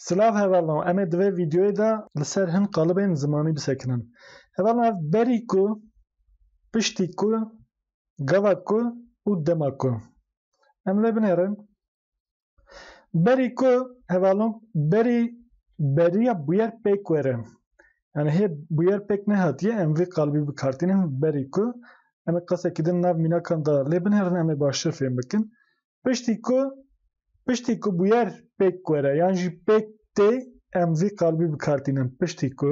Silav hevalno em ê di vê vîdeoyê de li ser hin qalibên zimanî bisekinin. Hevalno ev berî ku, piştî ku, gava ku û dema ku. Em lê binêrin Berî ku hevalong berî beriya bûyer pêk were. Yani hê bûyer pêk nehatiye em vê qalibî bikartînin berî ku em ê qesekî din nav mînakan de lê binêrin em ê baştir fêm bikin. Piştî ku piştî ku bûyer pêk were yan jî pêk tê em vî qalibî bikartînin piştî ku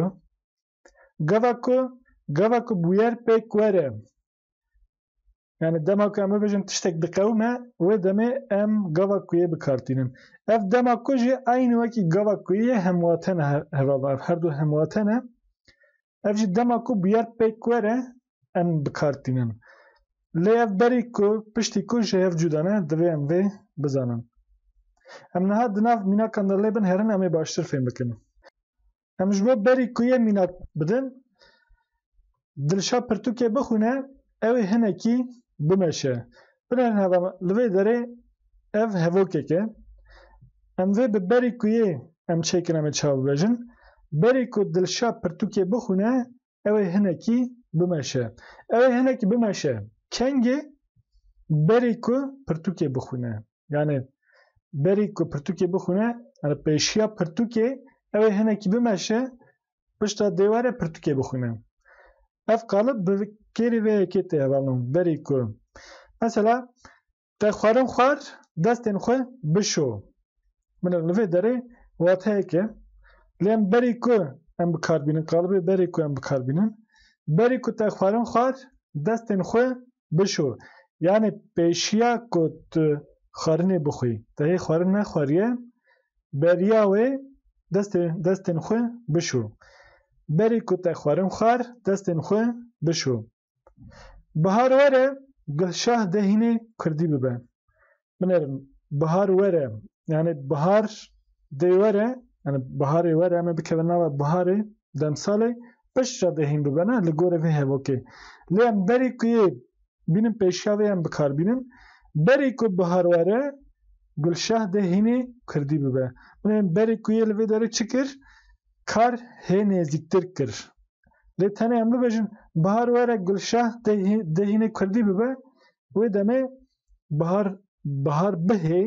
gava ku gava ku bûyer pêk were Yani dema ku em bibêjin tiştek diqewime wê demê em gava kuyê bikartînin. Ev dema ku jî aynî wekî gava kuyê hemwate ne heva ev her du hemwate ne. Ev jî dema ku bûyer pêk were em bikartînin. Lê ev berî ku piştî ku ji hev cuda ne divê em vê bizanin. Em niha di nav mînakan de lê bin herin em ê baştir fêm bikin. Em ji bo berî ku yê mînak bidin, Dilşa pirtûkê bixwîne, ew ê hinekî bimeşe. Binêrin heva me, li vê derê ev hevokek e. Em vê bi berî ku yê em çêkin em ê çav bibêjin. Berî ku Dilşa pirtûkê bixwîne, Ew ê hinekî bimeşe. Ew ê hinekî bimeşe. Kengê berî ku pirtûkê bixwîne. Yani berî ku pirtûkê bixwîne, yani pêşiya pirtûkê ew ê hinekî bimeşe, pişta dê were pirtûkê bixwîne. Ev qalib bi kêrî vê yekê tê hevalno. Berî ku. Mesela Te xwarin xwar destên xwe bişo. Min li vê derê wateyeke lê em berî ku em bi kar bînin qalibê berî ku em bi kar bînin berî ku te xwarin xwar destên xwe bişo yanî pêşiya ku tu xwarinê bixwî te hê xwarin nexwariye beriya wê destê destên xwe bişo. Berî ku te xwarin xwar destên xwe bişo. Bihar were Gulşah de hînê kurdî bibe. Binerim bihar were yani bihar dê were yani biharê were me bikevin nava biharê demsalê piştre de hîn bibe ne li gorê vê hevokê. Lê em berî ku yê bînin pêşiya vê em bikar bînin. Berî ku bihar were Gulşah de hînê kurdî bibe. Binerim berî ku yê li vê derê çi kir? Kar hê nêzîktir kir. Lê tenê em bibêjin bihar were Gulşah dehînê Kurdî bibe wê demê bihar bihar bihê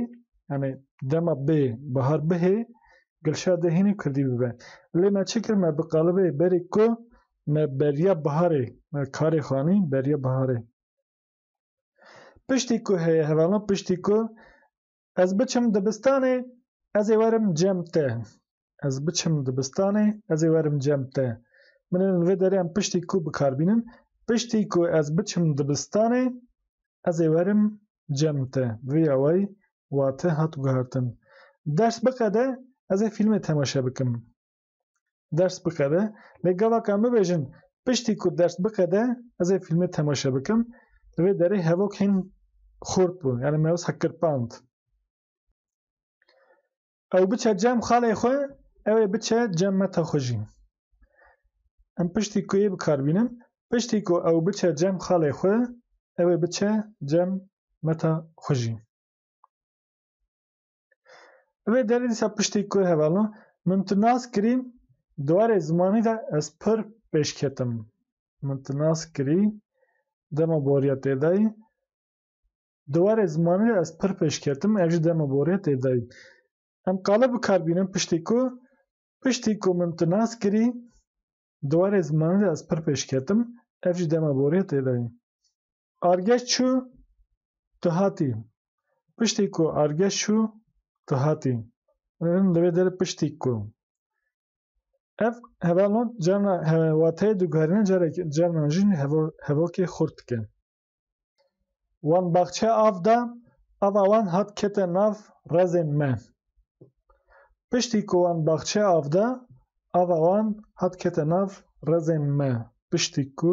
yani dema bê bihar bihê Gulşah dehînê Kurdî bibe. Lê me çi kir me bi qalibê berê ku me beriya biharê me karê xanî beriya biharê. Piştî ku heye hevala piştî ku Ez biçim dibistanê ez ê werim cem te. Ez biçim dibistanê ez ê werim cem te. Min li vê derê em piştî ku bikar bînin. Piştî ku ez biçim dibistanê ez ê werim cem te. Vê awayî wate hat guhertin. Ders biqede ez ê fîlmê temaşe bikim. ders bixebe lê gavaka min bêjin piştî ku ders bixede ez ê fîlmê temaşe bikim li vê derê hevok hîn xurt bû yani me wisa kirpand ew biçe cem xalê xwe ew ê biçe cem meta xwe jî em piştî ku yê bikarbînin piştî ku ew biçe cem xalê xwe ew ê biçe cem meta xwe jî Vê derê dîsa piştî ku hevalno min tu nas kirî di warê zimanî de ez pir pêşketim. Min tu nas kirî dema boriya têdayî di warê zimanî de ez pir pêşketim ev jî dema boriya têdayî. Em qala bikar bînin piştî ku piştî ku min tu nas kirî di warê zimanî de ez pir pêşketim ev jî dema boriya têdayî. Argeş çû tu hatî. Piştî ku argeş çû tu hatî. Em divê der piştî ku. Ev hevalon carna wateyê diguherîne carek carnan jî hevokê xurt dike. Wan baxçe av da, ava wan hat kete nav rezên me. Piştî ku wan baxçe av da, ava wan hat kete nav rezên me. Piştî ku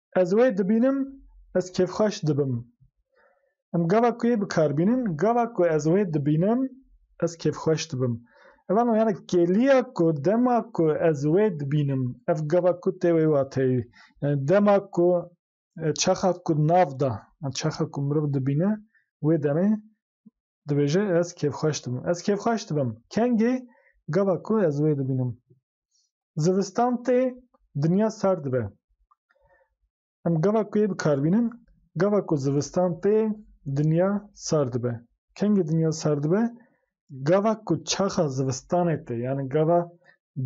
Ez wê dibînim, ez kêfxweş dibim. Em gava ku yê bi kar bînin, gava ku ez wê dibînim, ez kêfxweş dibim. Ev ano yani kêliya ku dema ku ez wê dibînim, ev gava ku tê wê wateyê. Yani dema ku çaxa ku nav da, çaxa ku mirov dibîne wê demê Dibêje ez kêfxweş dibim. Ez kêfxweş dibim. Kengê gava ku ez wê dibînim. Zivistan tê dinya sar dibe. Em gava ku yê bi kar bînin, gava ku zivistan tê dinya sar dibe. Kengê dinya sar dibe, gava ku çaxa zivistanê tê, yanî gava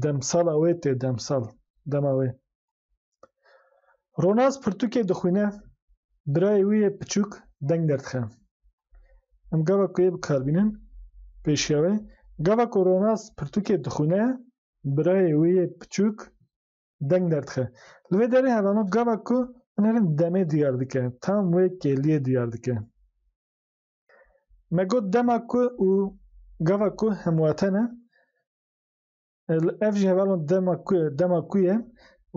demsala wê tê, demsal, dema wê. Ronaz pirtûkê dixwîne, birayê wî yê piçûk deng derdixe. Em gava ku yê bikarbînin pêşiya wê. Gava ku Ronaz pirtûkê dixwîne, birayê wî yê piçûk deng derdixe. Li vê derê hevano gava ku binêrin demê diyar dike, tam wê kêliyê diyar dike. Me got dema ku û gava ku hemwate ne. Ev jî heval in dema ku ye, dema ku ye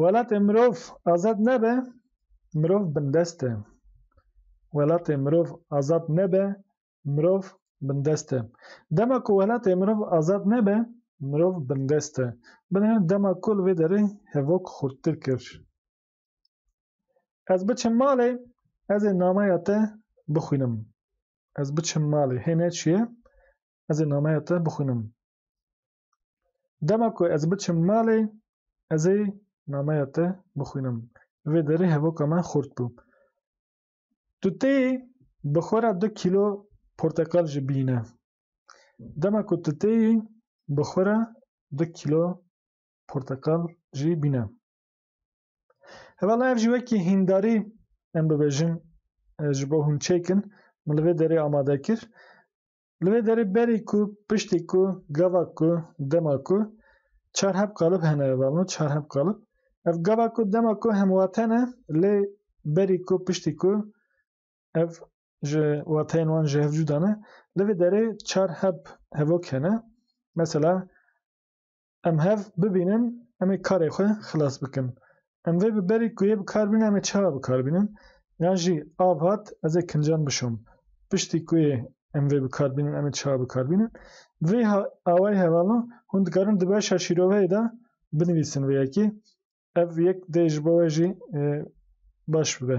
welatê mirov azad nebe, mirov bindest e. Welatê mirov azad nebe, mirov bindest e. Dema ku welatê mirov azad nebe, mirov bindest e. Binêrin dema ku li vê derê hevok xurttir kir. Ez biçim malê, ez ê nameya te bixwînim. Ez biçim malê, hê ne çi ye, ez ê nameya te bixwînim. Dema ku ez biçim malê, ez ê nameya te bixwînim. Li vê derê hevoka me xurt bû. Tu tê bi xwe re du kîlo porteqal jî bîne. Dema ku tu tê yî, bi xwe re du kîlo porteqal jî bîne. Hevala ev jî wekî hîndarî em bibêjin e, ji bo hûn çêkin, min li vê derê amade kir. Li vê derê berî ku piştî ku gava ku dema ku çar heb qalib hene evalno çar heb qalib ev gava ku dema ku hem wate ne lê berî ku piştî ku ev ji wateyên wan ji hev cuda ne li vê derê çar heb hevok hene mesela Em hev bibînin, em ê karê xwe xilas bikin. Em vê bi berî ku yê bi kar bînin em ê çawa bi kar bînin? Yan jî av hat ez ê kincan bişom. Piştî ku yê em vê bi kar bînin em ê çawa bi kar bînin? Bi vê awayî hevalan hûn dikarin di beşa şîroveyê de binivîsin vê yekê. Ev yek dê ji bo we jî baş bibe.